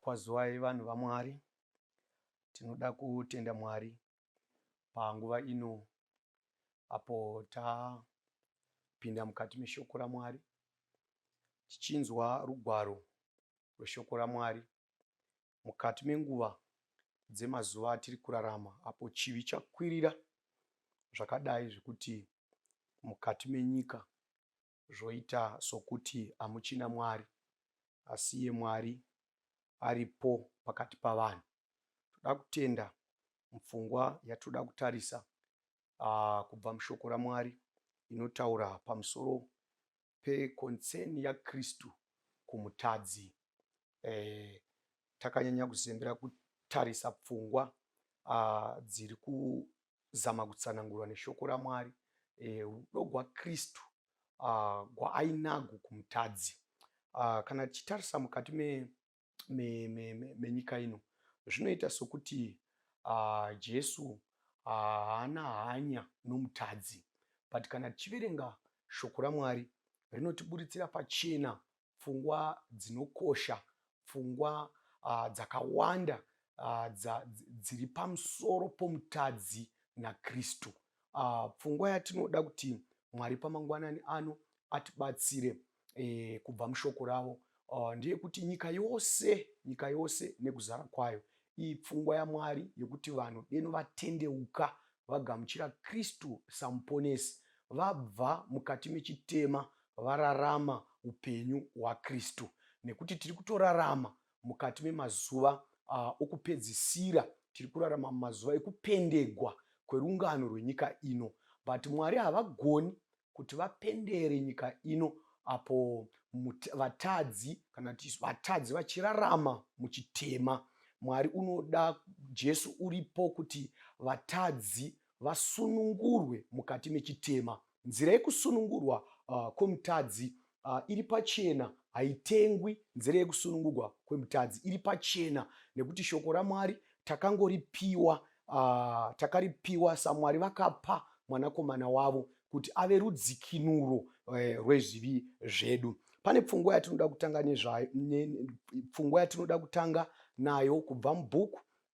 Kwazuwai vanhu vaMwari, tinoda kutenda Mwari panguva ino apo tapinda mukati meshoko raMwari tichinzwa rugwaro rweshoko raMwari mukati menguva dzemazuva atiri kurarama apo chivi chakwirira zvakadai zvekuti mukati menyika zvoita sokuti hamuchina Mwari, asi iye Mwari aripo pakati pavanhu. Toda kutenda mupfungwa yatoda kutarisa uh, kubva mushoko raMwari inotaura pamusoro peconcern yaKristu kumutadzi, eh, takanyanya kuzembera kutarisa pfungwa ah, dziri kuzama kutsanangurwa neshoko raMwari, eh, rudo gwaKristu ah, gwaainago kumutadzi. Ah, kana tichitarisa mukati me menyika me, me, me ino zvinoita sokuti uh, jesu haana uh, hanya nomutadzi but kana tichiverenga shoko ramwari rinotiburitsira pachena pfungwa dzinokosha pfungwa uh, dzakawanda uh, dza, dziri pamusoro pomutadzi nakristu uh, pfungwa yatinoda kuti mwari pamangwanani ano atibatsire e, kubva mushoko ravo uh, ndeyekuti nyika yose nyika yose nekuzara kwayo iyi pfungwa yamwari yekuti vanhu deno vatendeuka vagamuchira kristu samuponesi vabva mukati mechitema vararama upenyu hwakristu nekuti tiri kutorarama mukati memazuva uh, okupedzisira tiri kurarama mumazuva ekupendegwa kwerungano rwenyika ino but mwari havagoni kuti vapendere nyika ino apo vatadzi kana kuti vatadzi vachirarama muchitema mwari unoda jesu uripo kuti vatadzi vasunungurwe mukati mechitema nzira yekusunungurwa uh, kwomutadzi uh, iri pachena haitengwi nzira yekusunungurwa kwemutadzi iri pachena nekuti shoko ramwari takangoripiwa uh, takaripiwa samwari vakapa mwanakomana wavo kuti ave rudzikinuro uh, rwezvivi zvedu pane pfungwa yatinoda kutanga nezvayo pfungwa yatinoda kutanga nayo kubva mubhuku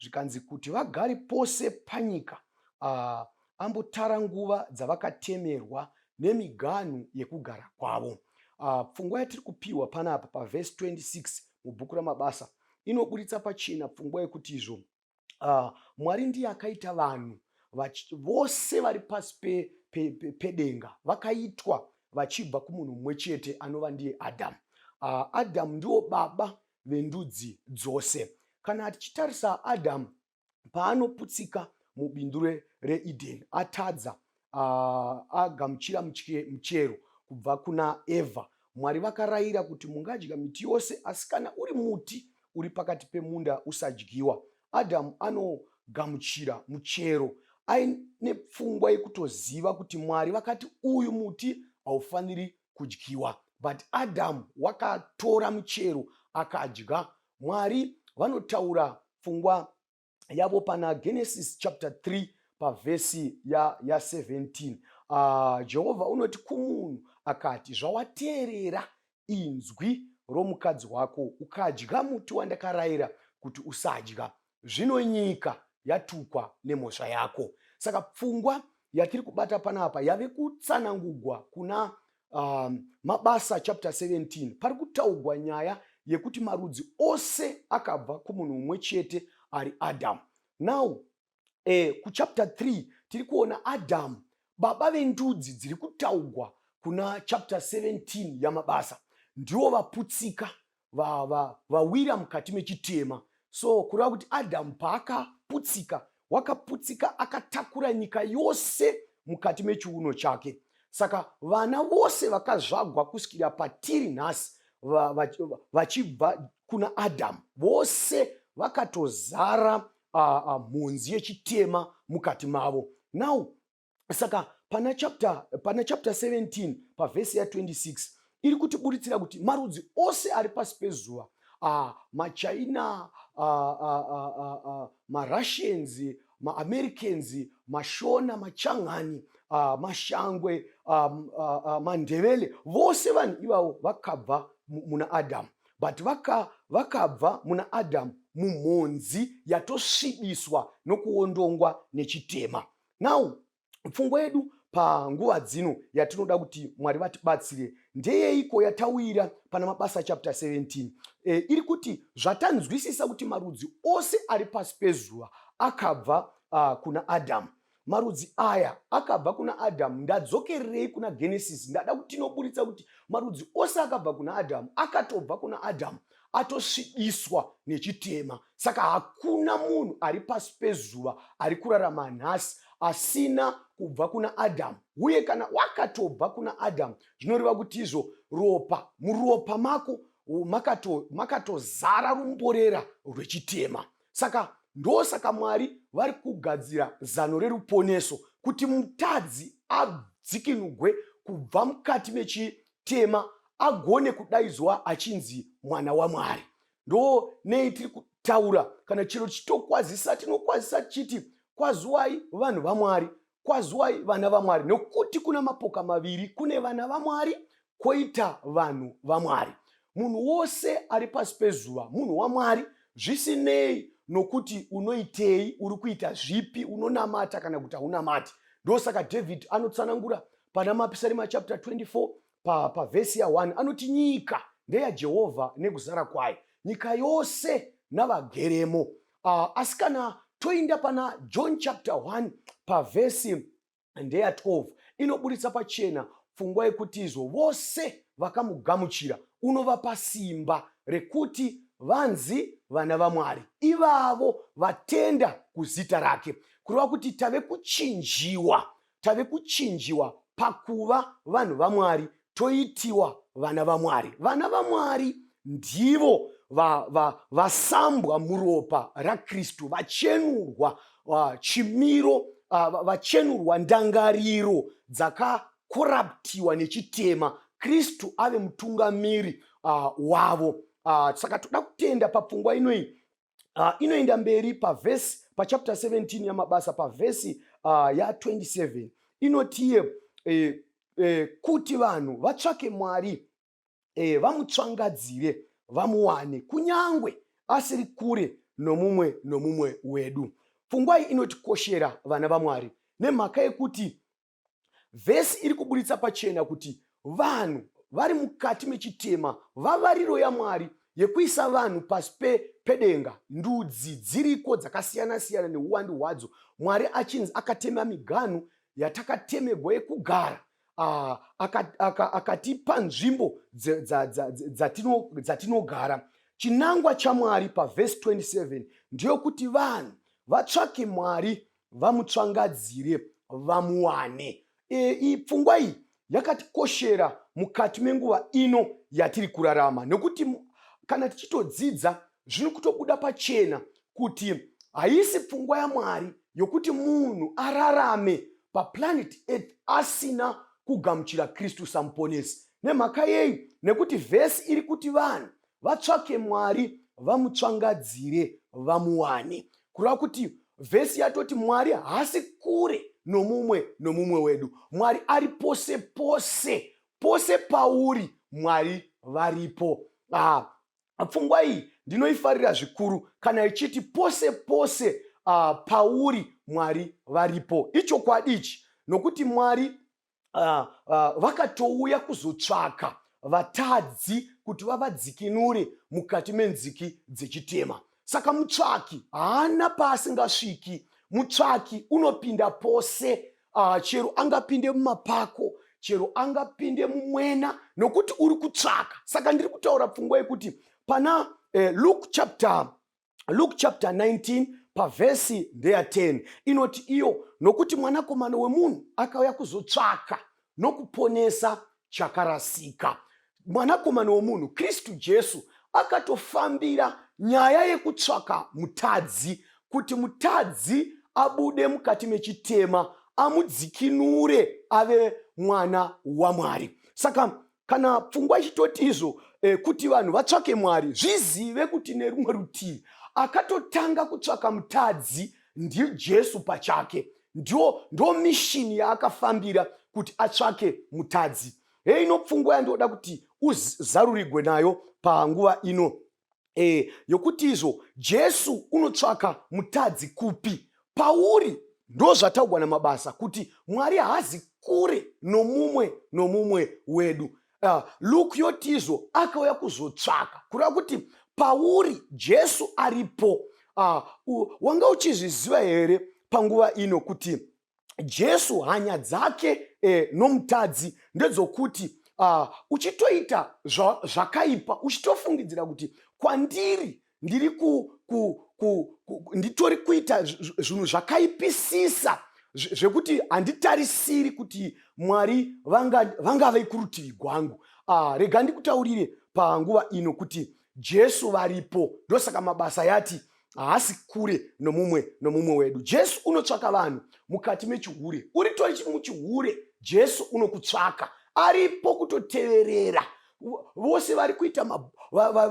zvikanzi kuti vagare pose panyika uh, ambotara nguva dzavakatemerwa nemiganhu yekugara kwavo uh, pfungwa yatiri kupiwa panapa pavhesi 26 mubhuku ramabasa inoburitsa pachena pfungwa yekuti izvo uh, mwari ndiye akaita vanhu vose vari pasi pedenga pe, pe, pe vakaitwa vachibva kumunhu mumwe chete anova ndiye adamu uh, adamu ndiwo baba vendudzi dzose. Kana tichitarisa Adhamu paanoputsika mubindu reEdheni, atadza uh, agamuchira muchero kubva kuna Evha. Mwari vakarayira kuti mungadya miti yose, asi kana uri muti uri pakati pemunda usadyiwa. Adhamu anogamuchira muchero aine pfungwa yekutoziva kuti Mwari vakati uyu muti haufaniri kudyiwa but adamu wakatora muchero akadya mwari vanotaura pfungwa yavo pana genesis chapter 3 pavhesi ya17 ya ah, jehovha unoti kumunhu akati zvawateerera inzwi romukadzi wako ukadya muti wandakarayira kuti usadya zvino nyika yatukwa nemhosva yako saka pfungwa yatiri kubata panapa yave kutsanangugwa kuna um, mabasa chapter 17 pari kutaugwa nyaya yekuti marudzi ose akabva kumunhu umwe chete ari adamu now eh, kuchapter 3 tiri kuona adamu baba vendudzi dziri kutaugwa kuna chapter 17 yamabasa ndiwo vaputsika vawira va, va, va mukati mechitema so kureva kuti adhamu paakaputsika wakaputsika akatakura nyika yose mukati mechiuno chake saka vana vose vakazvagwa kusvikira patiri nhasi vachibva va, va, kuna adhamu vose vakatozara mhunzi yechitema mukati mavo now saka pana chapter pana chapter 17 pavhesi ya 26 iri kutiburitsira kuti marudzi ose ari pasi pezuva ah, machina ah, ah, ah, ah, ah, marussians maamericans mashona machangani ah, mashangwe ah, ah, ah, mandevele vose vanhu ivavo vakabva muna adamu but vakabva vaka muna adamu mumhonzi yatosvibiswa nokuondongwa nechitema now pfungwa yedu panguva dzino yatinoda kuti mwari vatibatsire ndeyeiko yatawira pana mabasa chapter 17 e, eh, iri kuti zvatanzwisisa kuti marudzi ose ari pasi pezuva akabva uh, kuna adhamu marudzi aya akabva kuna adhamu ndadzokererei kuna genesis ndada kuti tinoburitsa kuti marudzi ose akabva kuna adhamu akatobva kuna adhamu atosvibiswa nechitema saka hakuna munhu ari pasi pezuva ari kurarama nhasi asina kubva kuna adhamu uye kana wakatobva kuna adhamu zvinoreva kuti izvo ropa muropa mako makatozara makato rumborera rwechitema saka ndosaka mwari vari kugadzira zano reruponeso kuti mutadzi adzikinugwe kubva mukati mechi mutema agone kudaidzwa achinzi mwana wamwari ndo nei tiri kutaura kana chero chitokwazisa tinokwazisa tichiti kwazuwai vanhu vamwari kwazuwai vana vamwari nokuti kuna mapoka maviri kune vana vamwari kwoita vanhu vamwari munhu wose ari pasi pezuva munhu wamwari zvisinei nokuti unoitei uri kuita zvipi unonamata kana kuti haunamati ndosaka david anotsanangura pana mapisarima chapter 24 pavhesi pa ya1 anoti nyika ndeyajehovha nekuzara kwayo nyika yose navageremo uh, asi kana toinda pana john chapter 1 pavhesi ndeya 12 inoburitsa pachena pfungwa yekuti izvo vose vakamugamuchira unovapa simba rekuti vanzi vana vamwari ivavo vatenda kuzita rake kureva kuti tave kuchinjiwa tave kuchinjiwa pakuva vanhu vamwari toitiwa vana vamwari vana vamwari ndivo vasambwa va, va muropa rakristu vachenurwa uh, chimiro uh, vachenurwa ndangariro dzakakoraptiwa nechitema kristu ave mutungamiri uh, wavo uh, saka toda kutenda papfungwa inoyi uh, inoenda mberi pavhesi pachapter 17 yamabasa pavhesi uh, ah, ya27 inotiye eh, eh, kuti vanhu vatsvake mwari eh, vamutsvangadzire vamuwane kunyangwe asiri kure nomumwe nomumwe wedu pfungwai inotikoshera vana vamwari nemhaka yekuti vhesi iri kuburitsa pachena kuti vanhu vari mukati mechitema vavariro yamwari yekuisa vanhu pasi pedenga ndudzi dziriko dzakasiyana siyana neuwandi hwadzo mwari achinzi akatema miganhu yatakatemegwa yekugara ah, akatipa nzvimbo dzatinogara chinangwa chamwari pavhesi 27 ndiyokuti vanhu vatsvake mwari vamutsvangadzire vamuwane e, pfungwa iyi yakatikoshera mukati menguva ino yatiri kurarama nokuti kana tichitodzidza zviri kutobuda pachena kuti haisi pfungwa yamwari yokuti munhu ararame paplanet earth asina kugamuchira kristu samuponesi nemhaka yei nekuti vhesi iri kuti vanhu vatsvake mwari vamutsvangadzire vamuwane kureva kuti vhesi yatoti mwari haasi kure nomumwe nomumwe wedu mwari ari pose pose pose pauri mwari varipo ah, pfungwa iyi ndinoifarira zvikuru kana ichiti pose pose ah, pauri mwari varipo ichokwadi ichi nokuti mwari uh, uh, vakatouya kuzotsvaka vatadzi kuti vavadzikinure mukati menziki dzechitema saka mutsvaki haana paasingasviki mutsvaki unopinda pose uh, chero angapinde mumapako chero angapinde mumwena nokuti uri kutsvaka saka ndiri kutaura pfungwa yekuti pana eh, luke chapter Luke chapter 19 pavhesi ndeya 10 inoti iyo nokuti mwanakomana wemunhu akauya kuzotsvaka nokuponesa chakarasika mwanakomana wemunhu kristu jesu akatofambira nyaya yekutsvaka mutadzi kuti mutadzi abude mukati mechitema amudzikinure ave mwana wamwari saka kana pfungwa ichitoti izvo eh, kuti vanhu vatsvake mwari zvizive kuti nerumwe rutivi akatotanga kutsvaka mutadzi ndijesu pachake ndiwo ndo mishini yaakafambira kuti atsvake mutadzi heino pfungwa yandoda kuti uzarurigwe nayo panguva ino e, yokuti izvo Jesu unotsvaka mutadzi kupi pauri ndozvataugwa namabasa kuti mwari haazi kure nomumwe nomumwe wedu uh, luke yotizvo akauya kuzotsvaka kureva kuti pauri jesu aripo uh, wanga uchizviziva here panguva ino kuti jesu hanya dzake eh, nomutadzi ndedzokuti uh, uchitoita zva, zvakaipa uchitofungidzira kuti kwandiri ndiri ku, ku, ku, ku, nditori kuita zvinhu zvakaipisisa zvekuti handitarisiri kuti mwari vangave vanga kurutivi gwangu uh, rega ndikutaurire panguva ino kuti jesu varipo ndosaka mabasa yati haasi kure nomumwe nomumwe wedu jesu unotsvaka vanhu mukati mechihure uritori muchihure jesu unokutsvaka aripo kutoteverera vose vari kuita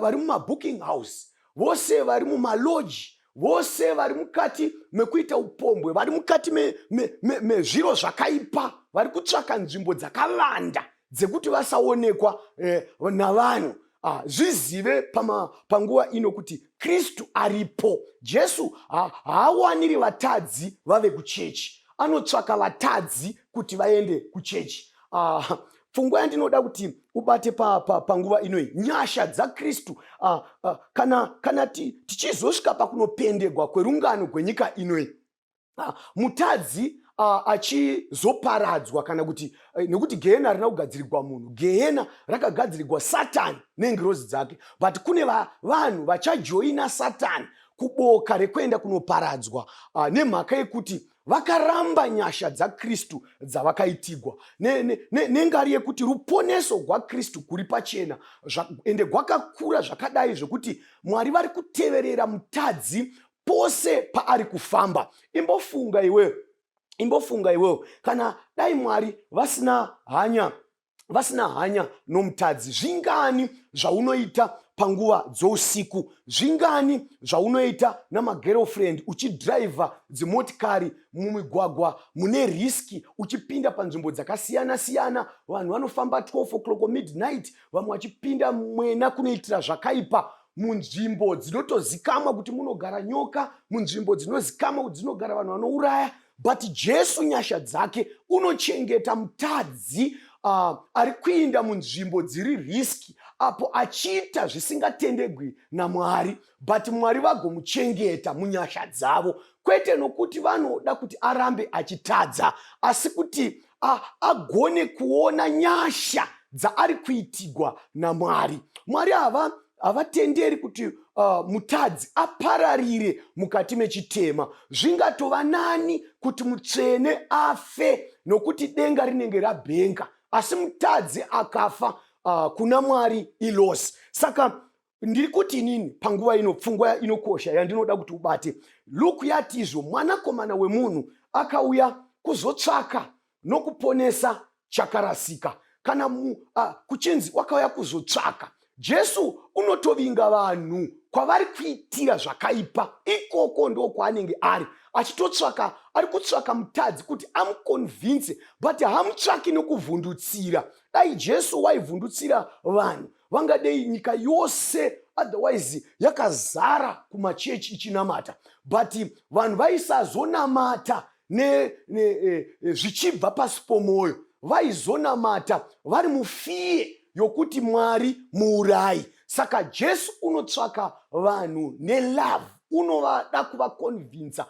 vari mumabooking house vose vari mumaloji vose vari mukati mekuita upombwe vari mukati mezviro me, me, me, zvakaipa vari kutsvaka nzvimbo dzakavanda dzekuti vasaonekwa eh, navanhu ah, zvizive pama, panguva ino kuti kristu aripo jesu haawaniri ha, vatadzi vave kuchechi anotsvaka vatadzi kuti vaende kuchechi ah, pfungwa yandinoda kuti ubate panguva pa, pa inoyi nyasha dzakristu ah, ah, kana, kana tichizosvika pakunopendegwa kwerungano gwenyika inoyi ah, mutadzi ah, achizoparadzwa kana kuti eh, nekuti gehena harina kugadzirigwa munhu gehena rakagadzirigwa satani nengirozi dzake but kune vanhu vachajoina satani kuboka rekuenda kunoparadzwa ah, nemhaka yekuti vakaramba nyasha dzakristu dzavakaitigwa nengari yekuti ruponeso rwakristu kuri pachena ende gwakakura zvakadai zvekuti mwari vari kuteverera mutadzi pose paari kufamba imbofunga iwewe imbofunga iwewe kana dai mwari vasina hanya vasina hanya nomutadzi zvingani zvaunoita panguva dzousiku zvingani zvaunoita namagerofriend uchidhiraivha dzimotikari mumigwagwa mune riski uchipinda panzvimbo dzakasiyana siyana vanhu vanofamba 12 o'clock midnight vamwe vachipinda mwena kunoitira zvakaipa munzvimbo dzinotozikamwa kuti munogara nyoka munzvimbo dzinozikamwa kuti dzinogara vanhu vanouraya but jesu nyasha dzake unochengeta mutadzi uh, ari kuinda munzvimbo dziri riski apo achiita zvisingatendegwi namwari but mwari vagomuchengeta munyasha dzavo kwete nokuti vanoda kuti arambe achitadza asi kuti agone kuona nyasha dzaari kuitigwa namwari mwari hava havatenderi kuti uh, mutadzi apararire mukati mechitema zvingatova nani kuti mutsvene afe nokuti denga rinenge rabhenga asi mutadzi akafa uh, kuna mwari ilosi saka ndiri kuti inini panguva ino pfungwa inokosha yandinoda kuti ubate luku yatizvo mwanakomana wemunhu akauya kuzotsvaka nokuponesa chakarasika kana mu, a, ah, kuchinzi wakauya kuzotsvaka jesu unotovinga vanhu kwavari kuitira zvakaipa ikoko ndo kwaanenge ari achitotsvaka ari kutsvaka mutadzi kuti amukonvinse but hamutsvaki nokuvhundutsira dai jesu waivhundutsira vanhu vangadei nyika yose otherwise yakazara kumachechi ichinamata but vanhu vaisazonamata ne, ne, e, e, zvichibva pasi pomwoyo vaizonamata vari mufiye yokuti mwari muurayi saka jesu unotsvaka vanhu nelove unovada kuvakonvinsa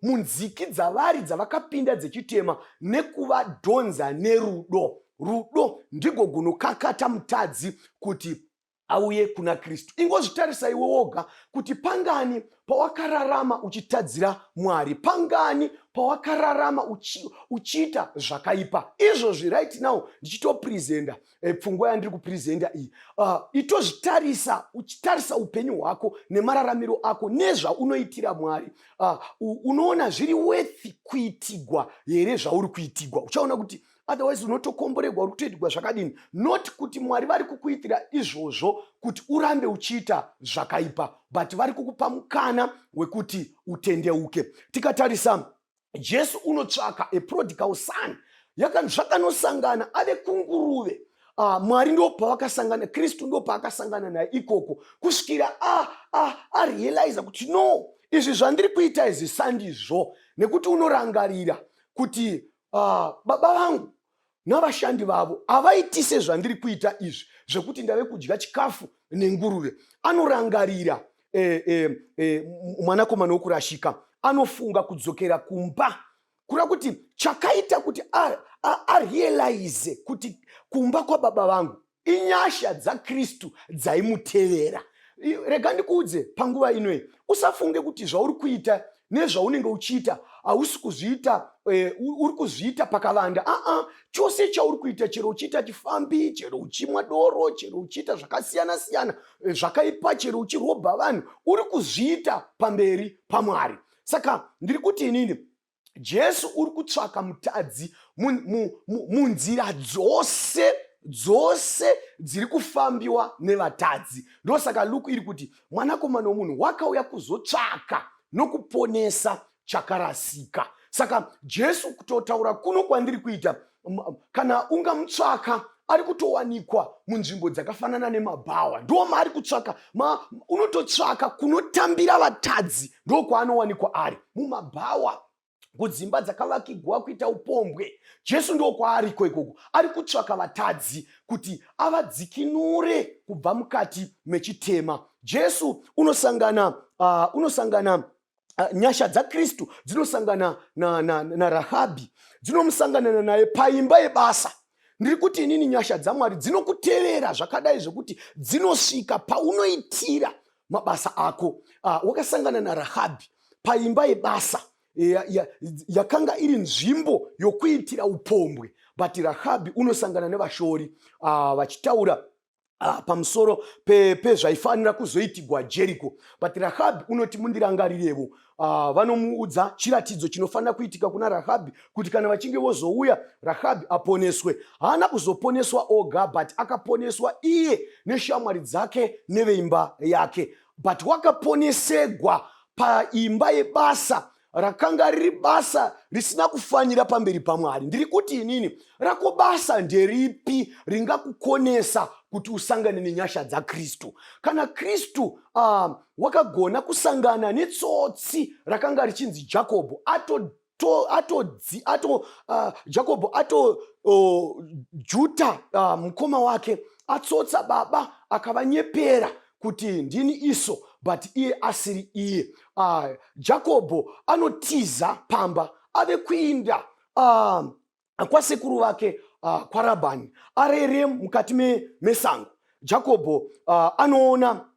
munziki dzavari dzavakapinda dzechitema nekuvadhonza nerudo Rudo ndigo gunokakata mutadzi kuti auye kuna Kristu. Ingozvitarisa iwe woga kuti pangani pawakararama uchitadzira Mwari, pangani pawakararama uchi, uchiita zvakaipa. Izvozvi right now ndichitopresenta eh, pfungwa e, yandiri kupresenta iyi uh, itozvitarisa uchitarisa upenyu hwako nemararamiro ako nezvaunoitira Mwari uh, unoona zviri worth kuitigwa here zvauri kuitigwa. Uchaona kuti otherwise unotokomborerwa uri kutoitirwa zvakadini not kuti mwari vari kukuitira izvozvo kuti urambe uchiita zvakaipa but vari kukupa mukana wekuti utendeuke tikatarisa jesu unotsvaka aprodical son zvakanosangana ave kunguruve uh, mwari ndo pavakasangana kristu ndo paakasangana naye ikoko kusvikira arealiza ah, ah, ah, kuti no izvi zvandiri kuita izvi sandizvo nekuti unorangarira kuti ah, baba vangu navashandi vavo havaitise zvandiri kuita izvi zvekuti ndave kudya chikafu nenguruve anorangarira eh, eh, eh, mwanakomana wokurashika anofunga kudzokera kumba kura kuti chakaita kuti arealize kuti kumba kwababa vangu inyasha dzakristu dzaimutevera rega ndikuudze panguva inoyi usafunge kuti zvauri kuita nezvaunenge uchiita hausi kuzviita eh, uri kuzviita pakavanda aa chose chauri kuita chero uchiita chifambi chero uchimwa doro chero uchiita zvakasiyana siyana eh, zvakaipa chero uchirobha vanhu uri kuzviita pamberi pamwari saka ndiri kuti inini jesu uri kutsvaka mutadzi munzira mu, mu, dzose dzose dziri kufambiwa nevatadzi ndosaka luku iri kuti mwanakomana womunhu wakauya kuzotsvaka nokuponesa chakarasika saka jesu kutotaura kuno kwandiri kuita kana ungamutsvaka ari kutowanikwa munzvimbo dzakafanana nemabhawa ndo maari kutsvaka ma, unototsvaka kunotambira vatadzi ndo kwaanowanikwa ari mumabhawa kudzimba dzakavakigwa kuita upombwe jesu ndo kwaariko ikoko ari kutsvaka vatadzi kuti avadzikinure kubva mukati mechitema jesu unosangana uh, unosangana Ah, nyasha dzakristu dzinosangana narahabhi na, na, na dzinomusanganana naye paimba yebasa ndiri kuti inini nyasha dzamwari dzinokuterera zvakadai zvekuti dzinosvika paunoitira mabasa ako uh, wakasangana narahabhi paimba yebasa yakanga ya, ya iri nzvimbo yokuitira upombwe but rahabhi unosangana nevashori uh, vachitaura Ah, pamusoro pezvaifanira pe kuzoitigwa jeriko but rahabhi unoti mundirangarirevo ah, vanomuudza chiratidzo chinofanira kuitika kuna rahabhi kuti kana vachinge vozouya rahabhi aponeswe haana kuzoponeswa oga but akaponeswa iye neshamwari dzake neveimba yake but wakaponesegwa paimba yebasa rakanga riri basa risina kufanira pamberi pamwari ndiri kuti inini rako basa nderipi ringakukonesa kuti usangane nenyasha dzakristu kana kristu uh, wakagona kusangana netsotsi rakanga richinzi jakobho ato to atodzi ato uh, jakobho ato uh, juta uh, mukoma wake atsotsa baba akavanyepera kuti ndini iso but iye asiri iye uh, jakobho anotiza pamba ave kuinda uh, kwasekuru vake uh, kwarabhani arere mukati me, mesango jakobho uh, anoona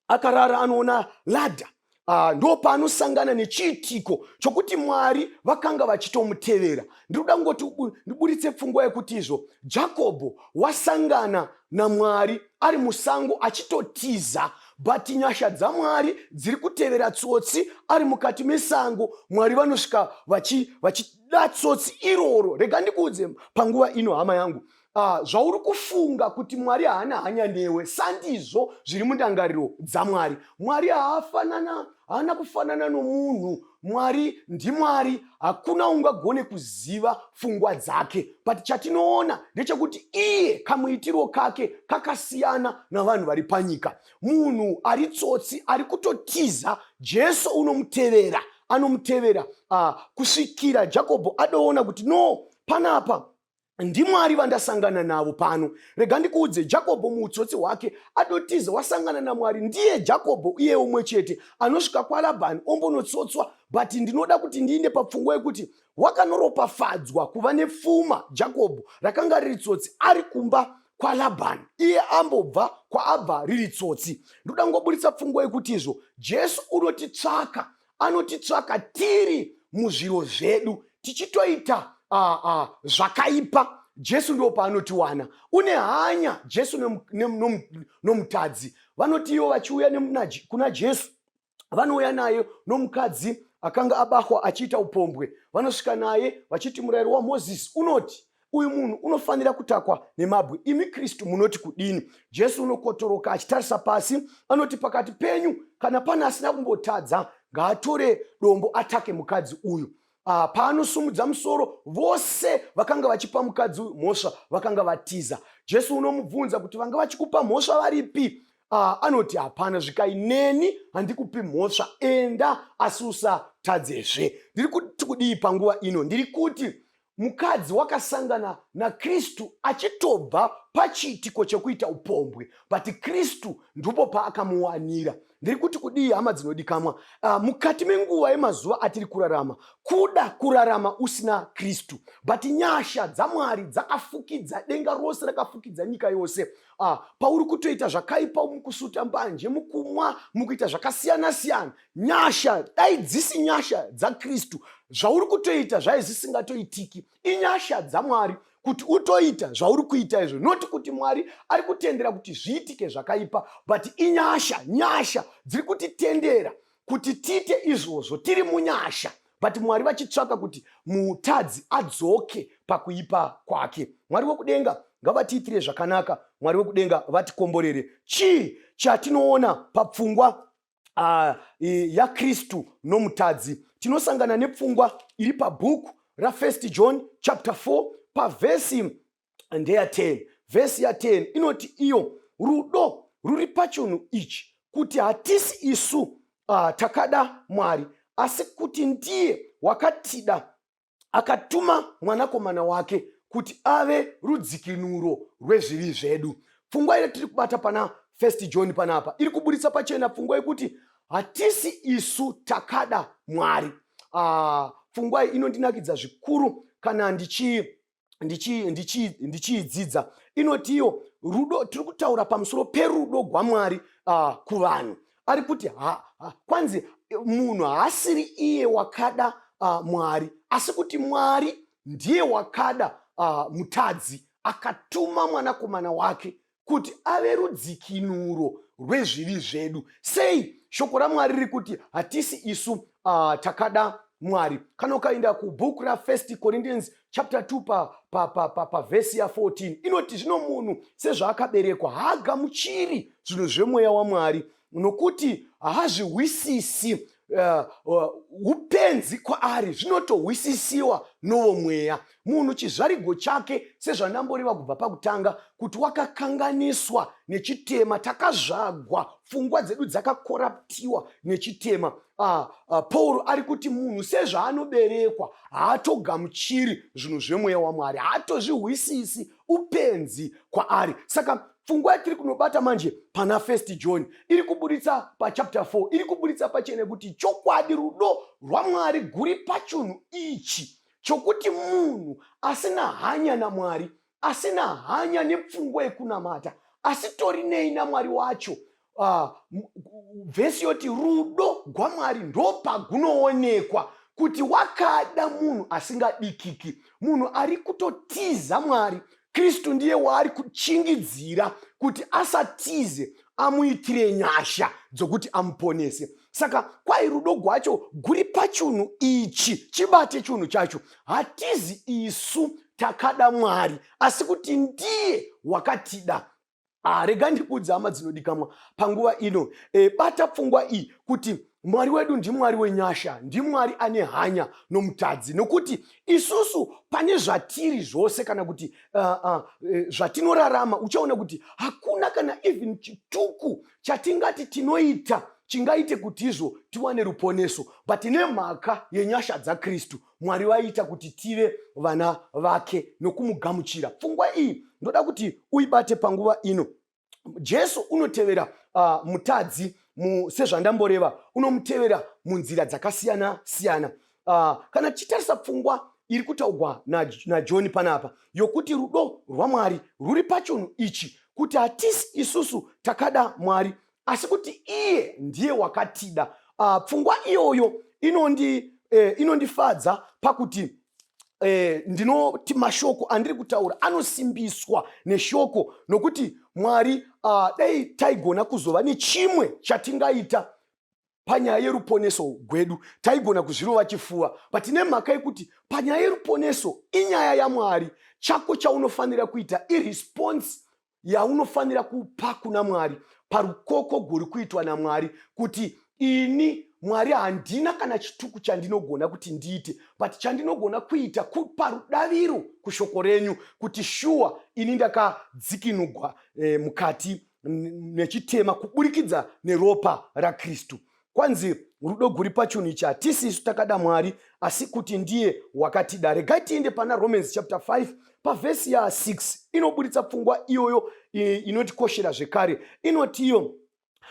akarara anoona ladha uh, ndo paanosangana nechiitiko chokuti mwari vakanga vachitomutevera ndiri kuda kungoti ndiburitse pfungwa yekuti izvo jakobho wasangana namwari ari musango achitotiza but nyasha dzamwari dziri kutevera tsotsi ari mukati mesango mwari vanosvika vachida vachi tsotsi iroro rega ndikuudze panguva ino hama yangu Ah, zvauri kufunga kuti mwari haana hanya newe sandizvo zviri mundangariro dzamwari mwari haafanana haana kufanana nomunhu mwari ndimwari hakuna ungagone kuziva fungwa dzake but chatinoona ndechekuti iye kamuitiro kake kakasiyana navanhu vari panyika munhu ari tsotsi ari kutotiza jesu unomutevera anomutevera uh, kusvikira jakobho adoona kuti no panapa ndimwari vandasangana navo pano rega ndikuudze jakobho muutsotsi hwake adotiza wasangana namwari ndiye jakobho iye umwe chete anosvika kwalabhani ombonotsotswa but ndinoda kuti ndiinde papfungwa yekuti wakanoropafadzwa kuva nepfuma jakobho rakanga riri tsotsi ari kumba kwalabhani iye ambobva kwaabva riri tsotsi ndoda ngoburitsa pfungwa yekuti izvo jesu unotitsvaka anotitsvaka tiri muzviro zvedu tichitoita uh, uh, zvakaipa jesu ndo paanotiwana une hanya jesu nomutadzi no, no, no vanoti ivo vachiuya kuna jesu vanouya naye nomukadzi akanga abahwa achiita upombwe vanosvika naye vachiti murayiro wamozisi unoti uyu munhu unofanira kutakwa nemabwe imi kristu munoti kudini jesu unokotoroka achitarisa pasi anoti pakati penyu kana pane asina kumbotadza ngaatore dombo atake mukadzi uyu ah, paanosumudza musoro vose vakanga vachipa mukadzi uyu mhosva vakanga vatiza jesu unomubvunza kuti vanga vachikupa mhosva varipi ah, anoti hapana zvikai neni handikupi mhosva enda asi usatadzezve ndiri kuti kudii panguva ino ndiri kuti mukadzi wakasangana nakristu achitobva pachiitiko chekuita upombwe but kristu ndipo paakamuwanira ndiri kuti kudii hama dzinodikamwa uh, mukati menguva yemazuva atiri kurarama kuda kurarama usina kristu but nyasha dzamwari dzakafukidza denga rose rakafukidza nyika yose Ah, pauri kutoita zvakaipa mukusuta mbanje mukumwa mukuita zvakasiyana siyana nyasha dai dzisi nyasha dzakristu zvauri kutoita zvai zvisingatoitiki inyasha dzamwari kuti utoita zvauri kuita izvo noti kuti mwari ari kutendera kuti zviitike zvakaipa but inyasha nyasha dziri kutitendera kuti tiite izvozvo tiri munyasha but mwari vachitsvaka kuti mutadzi adzoke pakuipa kwake mwari wekudenga ngavatiitire zvakanaka mwari wekudenga vatikomborere chii chatinoona papfungwa uh, yakristu nomutadzi tinosangana nepfungwa iri pabhuku rafirst john chapter 4 pavhesi ndeya 10 vhesi ya 10 inoti iyo rudo ruri pachunhu ichi kuti hatisi isu uh, takada mwari asi kuti ndiye wakatida akatuma mwanakomana wake kuti ave rudzikinuro rwezvivi zvedu pfungwa iri tiri kubata pana first john panapa iri kuburitsa pachena pfungwa yekuti hatisi isu takada mwari uh, pfungwa iyi inondinakidza zvikuru kana ndichii ndichiidzidza ndichi, ndichi inoti iyo rudo tiri kutaura pamusoro perudo gwamwari uh, kuvanhu ari kuti ha, ha, kwanzi munhu haasiri iye wakada uh, mwari asi kuti mwari ndiye wakada uh, mutadzi akatuma mwanakomana wake kuti ave rudzikinuro rwezvivi zvedu sei shoko ramwari riri kuti hatisi isu uh, takada mwari kana ukaenda kubhuku rafirst corinthians chapter 2 pavhesi pa, pa, pa, pa, pa ya14 inoti zvino munhu sezvaakaberekwa haagamuchiri zvinhu zvemweya wamwari nokuti haazvihwisisi eh, eh, upenzi uh, kwaari zvinotohwisisiwa novo mweya munhu chizvarigo chake sezvandamboreva kubva pakutanga kuti wakakanganiswa nechitema takazvagwa pfungwa dzedu dzakakoraptiwa nechitema uh, uh, pauro ari kuti munhu sezvaanoberekwa haatogamuchiri zvinhu zvemweya wamwari haatozvihwisisi upenzi kwaari saka pfungwa yatiri kunobata manje pana first john iri kuburitsa pachapter 4 iri kuburitsa pachene kuti chokwadi rudo rwamwari guri pachunhu ichi chokuti munhu asina hanya namwari asina hanya nepfungwa yekunamata asitori nei namwari wacho uh, vhesi yoti rudo gwamwari ndopagunoonekwa kuti wakada munhu asingadikiki munhu ari kutotiza mwari kristu ndiye waari kuchingidzira kuti asatize amuitire nyasha dzokuti amuponese saka kwai rudo gwacho guri pachunhu ichi chibate chunhu chacho hatizi isu takada mwari asi kuti ndiye wakatida Ah, rega ndikuudza hama dzinodikamwa panguva ino e, bata pfungwa iyi kuti mwari wedu ndimwari wenyasha ndimwari ane hanya nomutadzi nokuti isusu pane zvatiri zvose kana kuti uh, uh, zvatinorarama uchaona kuti hakuna kana even chituku chatingati tinoita chingaite kuti izvo tiwane ruponeso but nemhaka yenyasha dzakristu Mwari vaiita kuti tive vana vake nokumugamuchira. Pfungwa iyi ndoda kuti uibate panguva ino. Jesu unotevera uh, mutadzi mu, sezvandamboreva unomutevera munzira dzakasiyana siyana. Uh, kana tichitarisa pfungwa iri kutaugwa najoni na panapa yokuti rudo rwamwari rwuri pachunhu ichi kuti hatisi isusu takada mwari asi kuti iye ndiye wakatida uh, pfungwa iyoyo inondi eh, inondifadza pakuti eh, ndinoti mashoko andiri kutaura anosimbiswa neshoko nokuti mwari uh, dai taigona kuzova nechimwe chatingaita panyaya yeruponeso gwedu taigona kuzvirova chifuva but nemhaka yekuti panyaya yeruponeso inyaya yamwari chako chaunofanira kuita iresponse yaunofanira kupa kuna mwari parukoko guri kuitwa namwari kuti ini mwari handina kana chituku chandinogona kuti ndiite but chandinogona kuita kupa rudaviro kushoko renyu kuti shuwa ini ndakadzikinugwa eh, mukati nechitema kuburikidza neropa rakristu kwanzi rudo guri pachunhu ichi hatisi isu takada mwari asi kuti ndiye wakatida regai tiende pana romans chapter 5 pavhesi ya 6 inoburitsa pfungwa iyoyo inotikoshera zvekare inotiyo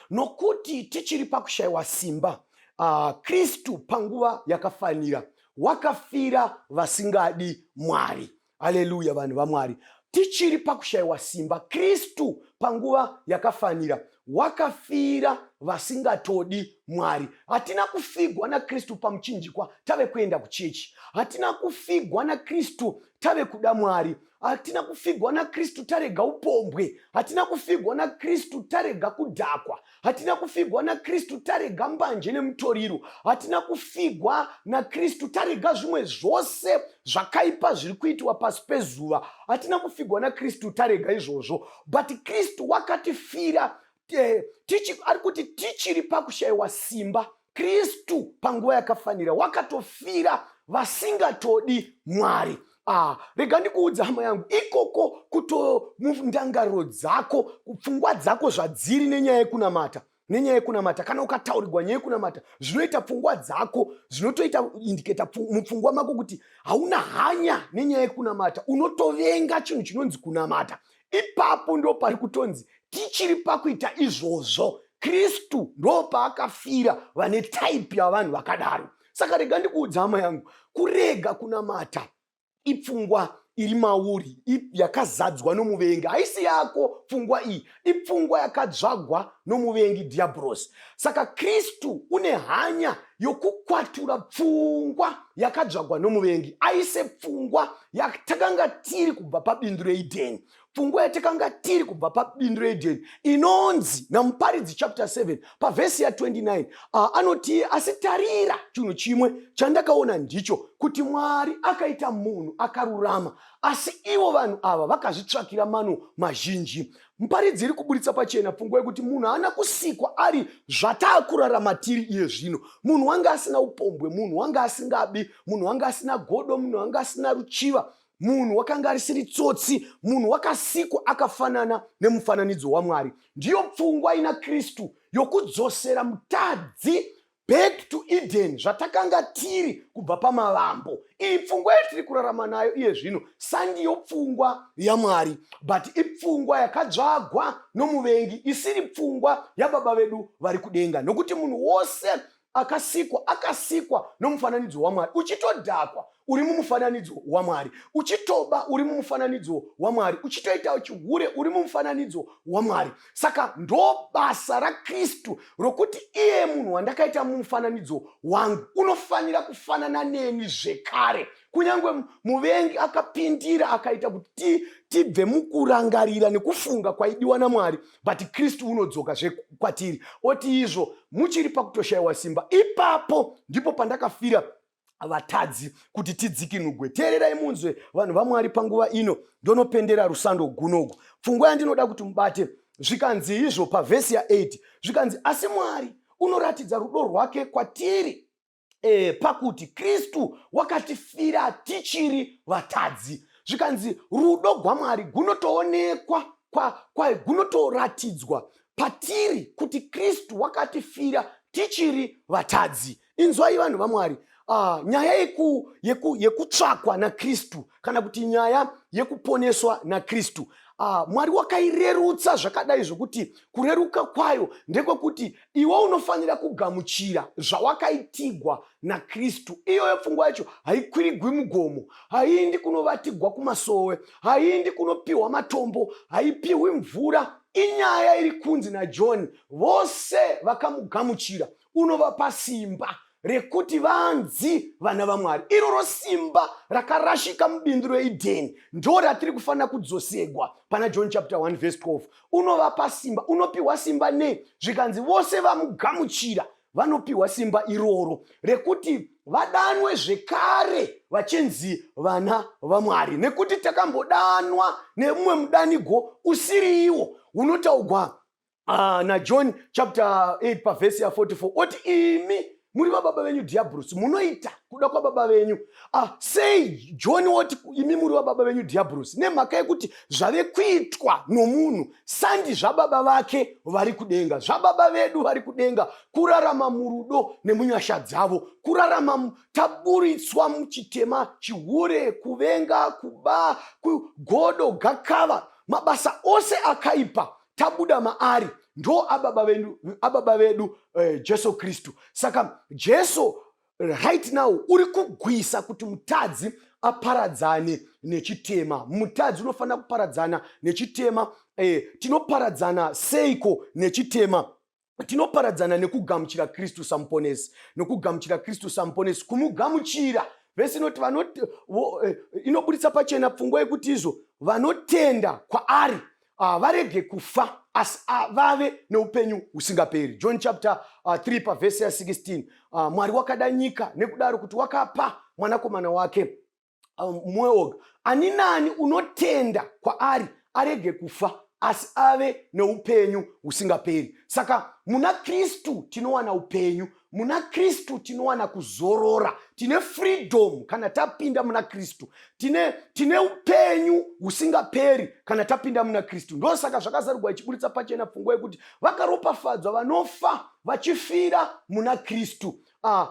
nokuti tichiri pakushayiwa simba uh, kristu panguva yakafanira wakafira vasingadi mwari haleluya vanhu vamwari tichiri pakushayiwa simba kristu panguva yakafanira wakafira vasingatodi mwari hatina kufigwa nakristu pamuchinjikwa tave kuenda kuchechi hatina kufigwa nakristu tave kuda mwari hatina kufigwa nakristu tarega upombwe hatina kufigwa nakristu tarega kudhakwa hatina kufigwa nakristu tarega mbanje nemutoriro hatina kufigwa nakristu tarega zvimwe zvose zvakaipa zviri kuitiwa pasi pezuva hatina kufigwa nakristu tarega izvozvo but kristu wakatifira eh, ari kuti tichiri pakushayiwa simba kristu panguva yakafanira wakatofira vasingatodi mwari ah, rega ndikuudza hama yangu ikoko kuto mundangariro dzako pfungwa dzako zvadziri nenyaya yekunamata nenyaya yekunamata kana ukataurirwa nyaya yekunamata zvinoita pfungwa dzako zvinotoita indiketa mupfungwa mako kuti hauna hanya nenyaya yekunamata unotovenga chinhu chinonzi kunamata ipapo ndo pari kutonzi tichiri pakuita izvozvo kristu ndo paakafira vane type yavanhu vakadaro saka rega ndikuudza hama yangu kurega kunamata ipfungwa iri mauri yakazadzwa nomuvengi haisi yako pfungwa iyi ipfungwa yakadzvagwa nomuvengi dhiyabhurosi saka kristu une hanya yokukwatura pfungwa yakadzvagwa nomuvengi aise pfungwa yatakanga tiri kubva pabindu reidheni pfungwa yatakanga tiri kubva pabindu reedheni inonzi namuparidzi chapter 7 pavhesi ya29 ah, anoti asi tarira chinhu chimwe chandakaona ndicho kuti mwari akaita munhu akarurama asi ivo vanhu ava vakazvitsvakira mano mazhinji Muparidzi iri kuburitsa pachena pfungwa yekuti munhu haana kusikwa ari zvataakurarama tiri iye zvino. Munhu wanga asina upombwe, munhu wanga asingabi, munhu wanga asina godo, munhu wanga asina ruchiva, munhu wakanga arisiri tsotsi, munhu wakasikwa akafanana nemufananidzo waMwari. Ndiyo pfungwa ina Kristu yokudzosera mutadzi back to eden zvatakanga tiri kubva pamavambo iyi pfungwa yatiri kurarama nayo iye zvino sandiyo pfungwa yamwari but ipfungwa yakadzvagwa nomuvengi isiri pfungwa yababa vedu vari kudenga nokuti munhu wose akasikwa akasikwa nomufananidzo wamwari uchitodhakwa uri mumufananidzo wamwari uchitoba uri mumufananidzo wamwari uchitoitawo chihure uri mumufananidzo wamwari saka ndobasa rakristu rokuti iye munhu wandakaita mumufananidzo wangu unofanira kufanana neni zvekare kunyange muvengi akapindira akaita kuti tibve mukurangarira nekufunga kwaidiwa namwari but kristu unodzoka zvekwatiri oti izvo muchiri pakutoshayiwa simba ipapo ndipo pandakafira vatadzi kuti tidzikinugwe teererai munzwe vanhu vamwari panguva ino ndonopendera rusando gunogu pfungwa yandinoda kuti mubate zvikanzi izvo pavhesi ya8 zvikanzi asi mwari unoratidza rudo rwake kwatiri e, pakuti kristu wakatifira tichiri vatadzi zvikanzi rudo gwamwari gunotoonekwa gunotoratidzwa patiri kuti kristu wakatifira tichiri vatadzi inzwai vanhu vamwari uh, nyaya yeku, yeku, yekutsvakwa nakristu kana kuti nyaya yekuponeswa nakristu uh, mwari wakairerutsa zvakadai zvokuti kureruka kwayo ndekwekuti iwe unofanira kugamuchira zvawakaitigwa nakristu iyoyo pfungwa yacho haikwirigwi mugomo haiindi kunovatigwa kumasowe haiindi kunopiwa matombo haipiwi mvura inyaya iri kunzi najohn vose vakamugamuchira unovapa simba rekuti vanzi vana vamwari iroro simba rakarashika mubindu reidheni ndo ratiri kufanira kudzosegwa pana john chapter 1 vhese 12 unovapa simba unopiwa simba nei zvikanzi vose vamugamuchira vanopiwa simba iroro rekuti vadanwe zvekare vachinzi vana vamwari nekuti takambodanwa nemumwe mudanigwo usiriiwo unotaugwa Ah, najohn chapter 8 pavhesi ya 44 oti imi muri vababa venyu dhiyabhurusi munoita kuda kwababa venyu ah, sei john woti imi muri vababa venyu dhiyabhurusi nemhaka yekuti zvave kuitwa nomunhu sandi zvababa vake vari kudenga zvababa vedu vari kudenga kurarama murudo nemunyasha dzavo kurarama taburitswa muchitema chihure kuvenga kuba kugodo gakava mabasa ose akaipa tabuda maari ndo ababa vedu, ababa vedu eh, jesu kristu saka jesu right now uri kugwisa kuti mutadzi aparadzane nechitema mutadzi unofanira kuparadzana nechitema eh, tinoparadzana seiko nechitema tinoparadzana nekugamuchira kristu samuponesi nokugamuchira kristu samuponesi kumugamuchira vhesi inoti eh, inoburitsa pachena pfungwa yekuti izvo vanotenda kwaari ah, varege kufa asi ah, vave neupenyu husingaperi john chapter 3 ah, pavhesi ya16 mwari wakada nyika nekudaro kuti wakapa mwanakomana wake um, mumwe oga ani nani unotenda kwaari arege kufa asi ave neupenyu husingaperi saka muna kristu tinowana upenyu muna kristu tinowana kuzorora tine freedom kana tapinda muna kristu tine, tine upenyu husingaperi kana tapinda muna kristu ndosaka zvakazarugwa ichiburitsa pachena pfungwa yekuti vakaropafadzwa vanofa vachifira muna kristu ah,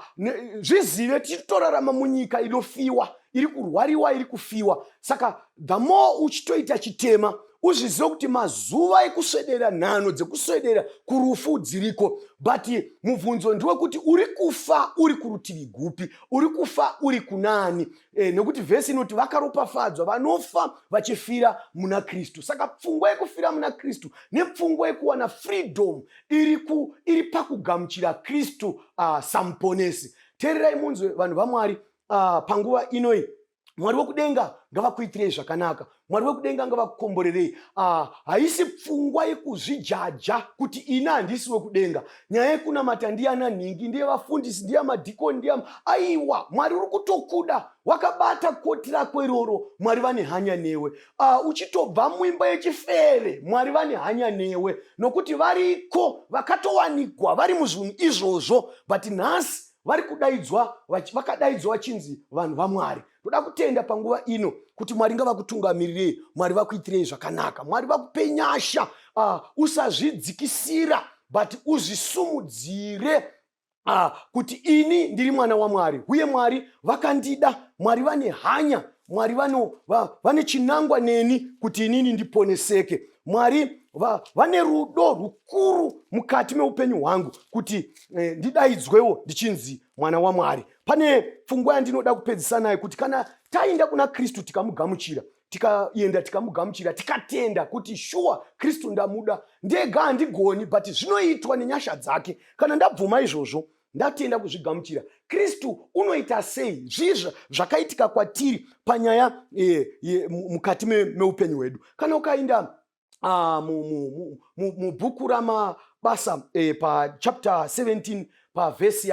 zvizive tiri torarama munyika inofiwa iri kurwariwa iri kufiwa saka the more uchitoita chitema uzvizive kuti mazuva ekuswedera nhano dzekuswedera kurufu dziriko but mubvunzo ndewekuti uri kufa uri kurutivi gupi uri kufa uri kunani E, nekuti vhesi inoti vakaropafadzwa vanofa vachifira muna kristu saka pfungwa yekufira muna kristu nepfungwa yekuwana freedom iri, ku, iri pakugamuchira kristu uh, samuponesi teererai munzwe vanhu vamwari uh, panguva inoi mwari wekudenga ngavakuitirei zvakanaka mwari wekudenga ngavakukomborerei ah, haisi pfungwa yekuzvijaja kuti ini handisi wekudenga nyaya yekunamata ndiyana nhingi ndiye vafundisi ndiya madhikoni ndiya aiwa mwari uri kutokuda wakabata koti rako iroro mwari vane hanya newe ah, uchitobva muimba yechifere mwari vane hanya newe nokuti variko vakatowanikwa vari muzvinhu izvozvo but nhasi vari kudaidzwa vakadaidzwa vachinzi vanhu vamwari toda kutenda panguva ino kuti mwari ngavakutungamirire mwari vakuitirei zvakanaka mwari vakupe nyasha uh, usazvidzikisira but uzvisumudzire uh, kuti ini ndiri mwana wamwari uye mwari vakandida mwari vane hanya mwari vano, va, vane chinangwa neni kuti inini ndiponeseke mwari va, vane rudo rukuru mukati meupenyu hwangu kuti eh, ndidaidzwewo ndichinzi mwana wamwari pane pfungwa yandinoda kupedzisa nayo kuti kana taenda kuna kristu tikamugamuchira tikaenda tikamugamuchira tikatenda kuti shuwa kristu ndamuda ndega handigoni but zvinoitwa nenyasha dzake kana ndabvuma izvozvo ndatenda kuzvigamuchira kristu unoita sei zvizva zvakaitika kwatiri panyaya e, e, mukati meupenyu hwedu kana ukainda ah, mubhuku ramabasa eh, pachapter 17 pavhesi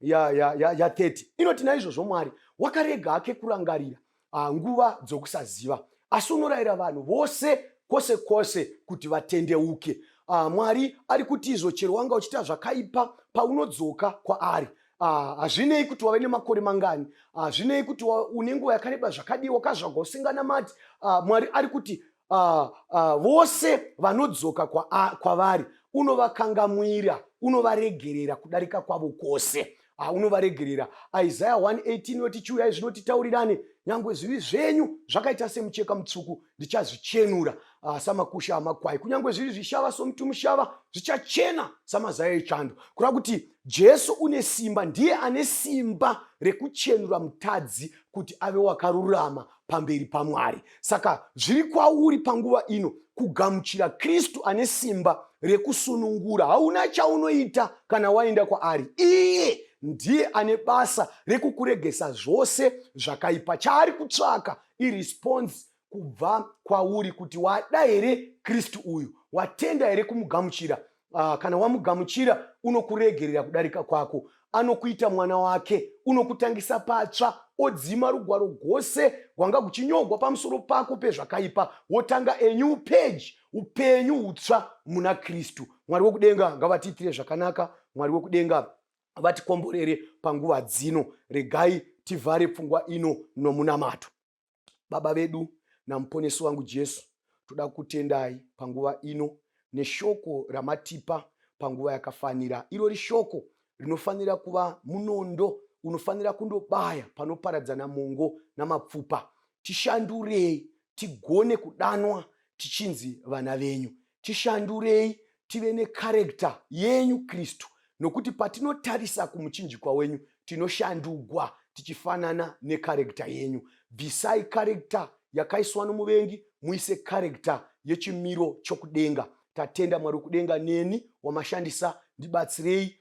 ya30 inoti naizvozvo mwari wakarega hake kurangarira ah, nguva dzokusaziva asi unorayira vanhu vose kwose kwose kuti vatendeuke ah, mwari ari kuti izvo chero wanga uchiita zvakaipa paunodzoka kwaari Ah, hazvinei kuti wave nemakore mangani hazvinei ah, kuti une nguva yakareba zvakadii wakazvagwa usinganamati ah, mwari ari kuti uh, uh, vose vanodzoka kwavari kwa unovakangamwira unovaregerera kudarika kwavo kwose ah, unovaregerera isaya 118 inoti chiuyai zvino titaurirane nyangwe zvivi zvenyu zvakaita semucheka mutsvuku ndichazvichenura ah, samakusha amakwai kunyange zviri zvishava somuti mushava zvichachena samazaya echando kureva kuti jesu une simba ndiye ane simba rekuchenura mutadzi kuti ave wakarurama pamberi pamwari saka zviri kwauri panguva ino kugamuchira kristu ane simba rekusunungura hauna chaunoita kana waenda kwaari iye ndiye ane basa rekukuregesa zvose zvakaipa chaari kutsvaka iresponse kubva kwauri kuti wada here kristu uyu watenda here kumugamuchira uh, kana wamugamuchira unokuregerera kudarika kwako anokuita mwana wake unokutangisa patsva odzima rugwaro gwose gwanga kuchinyogwa pamusoro pako pezvakaipa wotanga enyu peji upenyu utsva muna kristu mwari wekudenga ngavatiitire zvakanaka mwari wekudenga vatikomborere panguva dzino regai tivhare pfungwa ino nomunamato Baba vedu naMuponesi wangu Jesu, toda kutendai panguva ino neshoko ramatipa panguva yakafanira. Irori shoko rinofanira kuva munondo unofanira kundobaya panoparadzana mongo namapfupa. Tishandurei tigone kudanwa tichinzi vana venyu. tishandurei tive necharector yenyu kristu nokuti patinotarisa kumuchinjikwa wenyu tinoshandugwa tichifanana necharector yenyu bvisai charector yakaiswa nomuvengi muise charector yechimiro chokudenga tatenda mwari wekudenga neni wamashandisa ndibatsirei